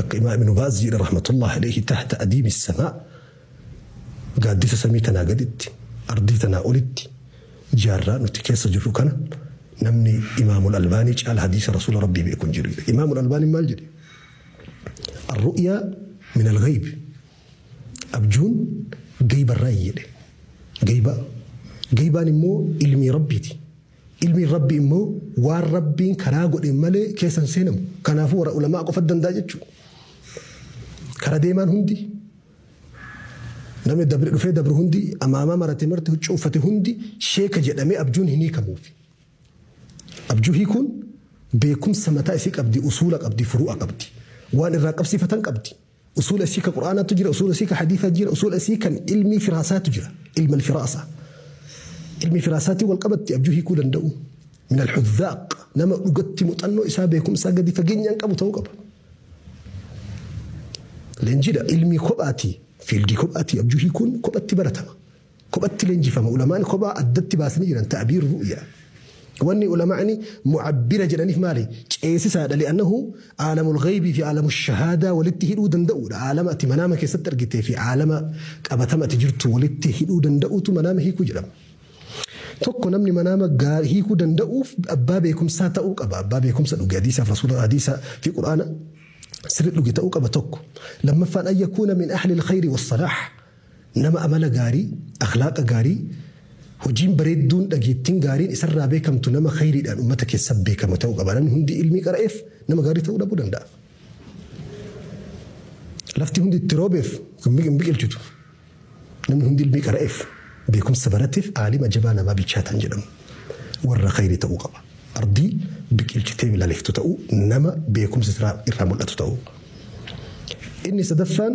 Akka Imaam Ibnu Baaz jedhe rahmatullahi alayhi tahta adiimi samaa gaaddisa samii tanaa gaditti ardii tanaa olitti jaarraa nuti keessa jirru kana namni Imaamul Albaanii caala hadiisa Rasuula Rabbii beeku hin jiru jedhe. Imaamul Albaanii maal jedhe? Arru'yaa min al-ghayb. Abjuun gaybarraa jedhe. Gaybaa. Gaybaan immoo ilmii Rabbiiti. Ilmiin Rabbii immoo waan Rabbiin karaa godheen malee keessa hin seenamu. Kanaafuu warra ulamaa qofatu danda'a jechuudha. Kara deemaan hundi namni dabre dhufee dabru hundi amaamaa marate marti huccuu uffate hundi sheeka jedhamee abjuun hin hiikamuufi. Abjuu hiikuun beekumsa mataa isii qabdi, usuula qabdi, furu'a qabdi. Waan irraa qabsiifatan qabdi. Usuula isii ka Qur'aanaatu jira, usuula isii ka hadiisaa jira, usuula isii kan ilmii firaasaatu jira, ilma alfiraasa. Ilmii firaasaatiin wal qabatti abjuu hiikuu danda'u. Min alhudhaaq nama dhugatti muxannoo isaa beekumsaa gadi fageenyaan qabu ta'uu qaba. Leenjiidha ilmii kophaati, fiildii kophaati abjuu hiikuun kophatti baratama. Kophatti leenjifama. Ulamaan kophaa addatti baasanii jiran ta'biir ru'ya. Wanni ulama'ni mu'abbira jedhaniif maali? Ceesisaadha li'annahu aalamul ghaybii fi aalamul shahaadaa walitti hidhuu danda'uudha. Aalama ati manaama keessatti argitee fi aalama qabatama ati jirtu walitti hidhuu danda'uutu manaama hiikuu jedhama. Tokko namni manaama gaar hiikuu danda'uuf abbaa beekumsaa ta'uu qaba. Abbaa beekumsa dhuge hadiisaaf rasuula hadiisa fi quraana sirri dhuge ta'uu qaba tokko. Lammaffaan an yakuuna min ahlil khayri was salaah. Nama amala gaarii, akhlaaqa gaarii, hojiin bareedduun, dhageettin gaariin isarraa beekamtu nama khayriidhaan ummata keessa beekama ta'uu qaba. Namni hundi ilmii qara'eef nama gaarii ta'uu dhabuu danda'a. Lafti hundi itti roobeef hin biqilchitu. Namni hundi ilmii qara'eef, beekumsa barateef aalima jabaa namaa bilchaataa hin jedhamu. Warra khayrii ta'uu qaba. Ardii biqilchitee bilaleeftu ta'uu, nama beekumsi irraa mul'atu ta'uu. Inni sadaffaan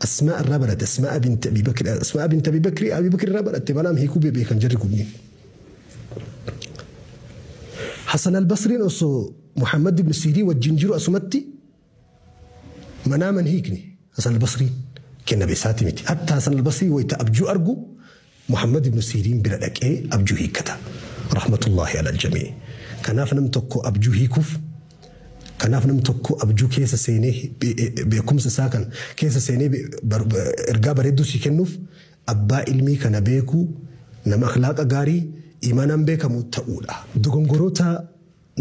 Asmaa irraa baratte Asmaa binti Abi Bakri Asmaa binti Abi Bakri Abi Bakri irraa baratte balaam hiikuu beekan jarri kunniin. Hasan al-Basriin osoo Muhammad ibn Siirii wajjin jiru asumatti manaaman hiikne Hasan al-Basriin kenna beesaati miti. Hatta Hasan al-Basrii wayita abjuu argu Muhammad ibnu Siiriin bira dhaqee abjuu hiikkata. Rahmatullaahi alal jamii. Kanaaf namni tokko abjuu hiikuuf Kanaaf namni tokko abjuu keessa seenee beekumsa isaa kan keessa seenee ergaa bareedduu sii kennuuf abbaa ilmii kana beekuu nama akhlaaqa gaarii iimaanaan beekamu ta'uudha. Dogongoroota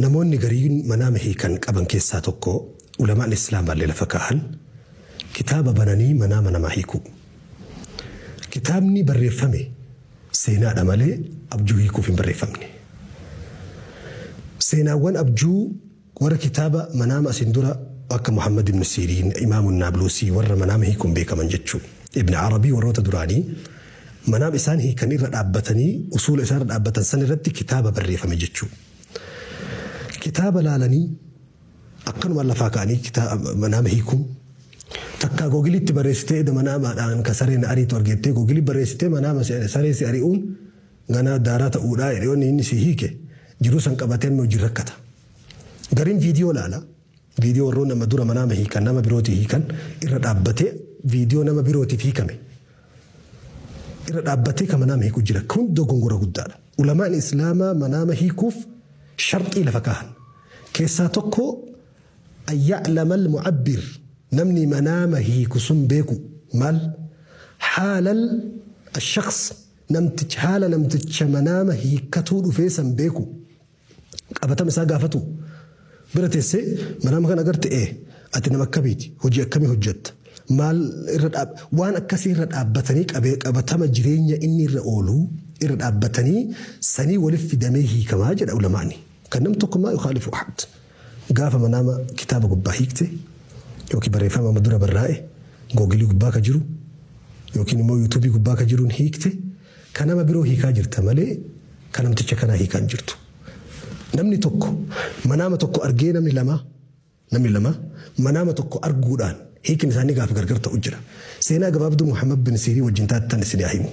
Namoonni gariin manaama hiikan qaban keessaa tokko ulamaa'ni Islaamaallee lafa kaahan kitaaba bananii manaama namaa hiikuu. Kitaabni barreeffame seenaadha malee abjuu hiikuuf hin barreeffamne. Seenaawwan abjuu warra kitaaba manaama asiin dura akka Muhammad ibn Siiriin, Imaamu Naabluusii warra manaama hiikuun beekaman jechuu. Ibn Arabii warroota duraanii manaama isaan hiikan irra dhaabbatanii usuula isaan irra dhaabbatan san irratti kitaaba barreeffame jechuu. Kitaaba laalanii akkanumaan lafaa ka'anii kitaaba manaama hiikuun takkaa googiliitti barreessitee eda manaamaadhaan ka sareen ariitu argettee googilii barreessitee manaama saree si ari'uun ganaa daaraa ta'uudhaa jedhee inni si hiike jiruu san qabatee amma hojii rakkata. Gariin viidiyoo laala. Viidiyoo warroonni amma dura manaama hiikan nama birootii hiikan irra dhaabbatee viidiyoo nama birootiif hiikame irra dhaabbatee kan manaama hiiku jira. Kun dogongora guddaadha. Ulamaan Islaamaa manaama hiikuuf sharxii lafa kaahan. Keessaa tokko ayya'lamal mu'abbir namni manaama hiiku sun beeku maal haalal ashaqs namticha haala namticha manaama hiikkatuu dhufee san beeku. qabatama isaa gaafatu bira tessee manaama kan agarte ee ati nama akkamiiti hojii akkamii hojjetta maal irra dhaab waan akkasii irra dhaabbatanii qabatama jireenya inni irra oolu irra dhaabbatanii sanii waliif fidamee hiikamaa jedha ulamaani kan nam tokko maa yukhaalifu ahad gaafa manaama kitaaba gubbaa hiikte yookiin barreeffama amma dura barraa'e googilii gubbaa ka jiru yookiin immoo yuutuubii gubbaa ka jiruun hiikte Ka nama biroo hiikaa jirta malee ka namticha kanaa hiikaa hin jirtu. Namni tokko manaama tokko argee namni lama namni lama manaama tokko arguudhaan hiikni isaanii gaafa gargar ta'u jira. Seenaa gabaabduu Muhammad bin Siirii wajjin taatan isin haa himu.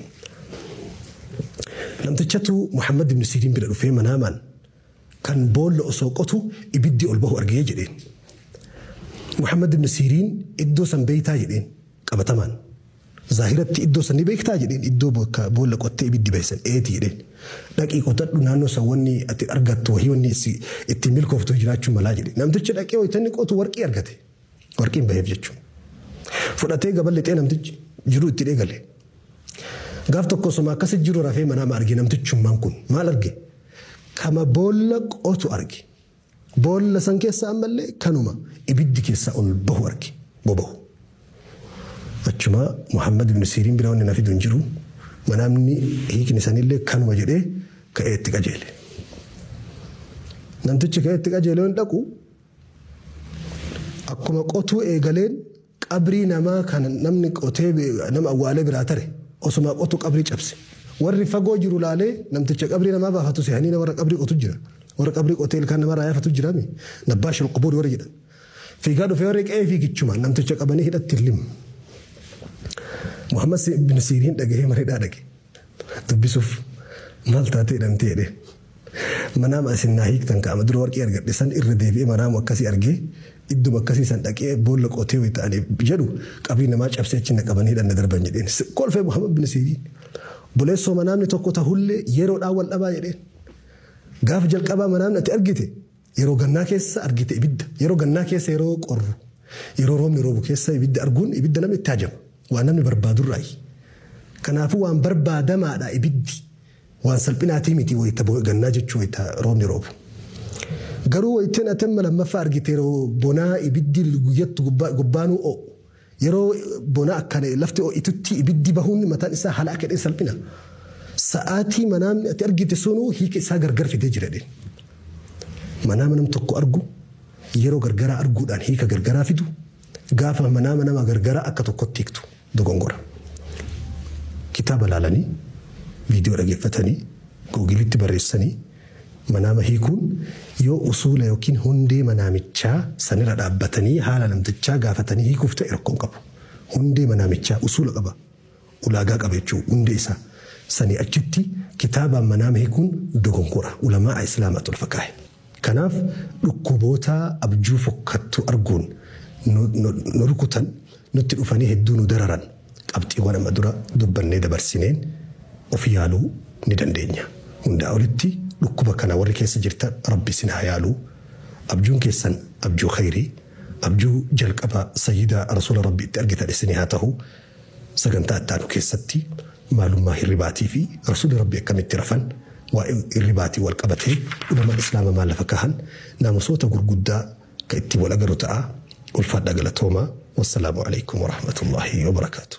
Namtichatu Muhammad bin Siiriin bira dhufee manaamaan kan boolla osoo qotu ibiddi ol bahu argee jedheen. Muhammad bin Siiriin iddoo san beeytaa jedheen qabatamaan. Zaahiratti iddoo san ni beektaa? jedheen. Iddoo bakka boolla qottee ibiddi bahe san? Eeti jedheen. Dhaqii qotadhu naannoo san wanni ati argattu wahii wanni si ittiin milkooftu wahii jiraachuu malaa jedheen. Namtichi dhaqee wayta inni qotu warqii argate. Warqiin baheef jechuun. Fudhatee gaba lixee namtichi jiruu itti eegale. Gaaf tokko osoma akkasi jiru rafee manaama arge namtichummaan kun. Maal arge? Kama boolla qotu arge. Boolla san keessaa ammallee kanuma ibiddi keessaa ol bahu arge, boba'u. Achuma Muhammad ibn Siiriin bira wanni na fidu hin jiru, manaamni hiikni sanillee kanuma jedhee ka'ee itti qajeele. Namtichi ka'ee itti qajeele yoon dhaqu akkuma qotuu eegaleen Qabrii namaa kan namni qotee nama awwaalee biraa tare osumaa qotu qabrii cabse. Warri fagoo jiru laalee namticha qabrii namaa baafatu sehaniina warra qabrii qotu jira. Warra qabrii qotee ilkaan namaa irraa yaafatu jirami. Nabbaashul qubuur warri jedhan. Fiigaa dhufee warri qe'ee fiigichumaan namticha qabanii hidhatti lim. Muhammad bin Siiriin dhagahee mana hidhaa dhaqe. Dubbisuuf maal taatee hidhamtee jedhee. Manaama isin naa hiiktan ka ama dura warqii argadhe san irra deebi'ee manaama akkasii argee idduma akkasii san dhaqee boolla qotee wayta ani jedhu qabrii namaa cabsee achi na qabanii hidhan na darban jedheen. Kolfee Muhammad bin Siiriin. Obboleessoo manaamni tokko tahullee yeroodhaan wal dhabaa jedheen. Gaafa jalqabaa manaamni ati argite Yeroo gannaa keessa argite ibidda. Yeroo gannaa keessa yeroo qorru, yeroo roobni roobu keessa ibidda arguun ibidda namni itti hajama. Waan namni barbaadurraayi. Kanaafuu waan barbaadamaadha ibiddi. Waan salphinaatii miti wayita gannaa jechuu wayita roobni roobu. Garuu wayteen ati amma lammaffaa argite yeroo bonaa ibiddi guyyattu gubbaanuu oo'u. Yeroo bona akkana lafti ho'itutti ibiddi bahuun mataan isaa haala akka jedheen salphina. Sa'aatii manaamni ati argite sunuu hiika isaa gargar fidee jira jedheen. Manaama nam tokko argu yeroo gargaraa arguudhaan hiika gargaraa fidu gaafa manaama nama gargaraa akka tokkotti hiiktu dogongora. Kitaaba laalanii, viidiyoo dhageeffatanii, googilitti barreessanii Manaama hiikuun yoo usuula ykn hundee manaamichaa sanira dhaabbatanii haala namtichaa gaafatanii hiikuuf ta'e rakkoo hin qabu. Hundee manaamichaa, usuula qaba, ulaagaa qaba jechuudha, hundee isaa. Sanii achitti kitaabaan manaama hiikuun dogonkora, ulamaa'a Islaamaatu lafa kaahe. Kanaaf dhukkuboota abjuu fokkattuu arguun nu rukutan Nutti dhufanii hedduu nu dararan. Qabxiiwwan amma dura dubbannee dabarsineen of yaaluu ni dandeenya. Hundaa olitti dhukkuba kana warri keessa jirtan Rabbi isin haa yaalu. Abjuun keessan abjuu khayrii, abjuu jalqaba Sayyida Rasuula Rabbi itti argitan isinii haa tahu. Sagantaa itti aanu keessatti maalummaa hirribaatii fi Rasuulli Rabbi akkamitti rafan, waa'ee hirribaatiin wal qabatee ulamaan Islaama maal lafa kaahan, naamusoota gurguddaa ka ittiin wal agarru ta'a. Ulfaadhaa galatoomaa. Wassalaamu aleykum warahmatullaahi wabarakaatuh.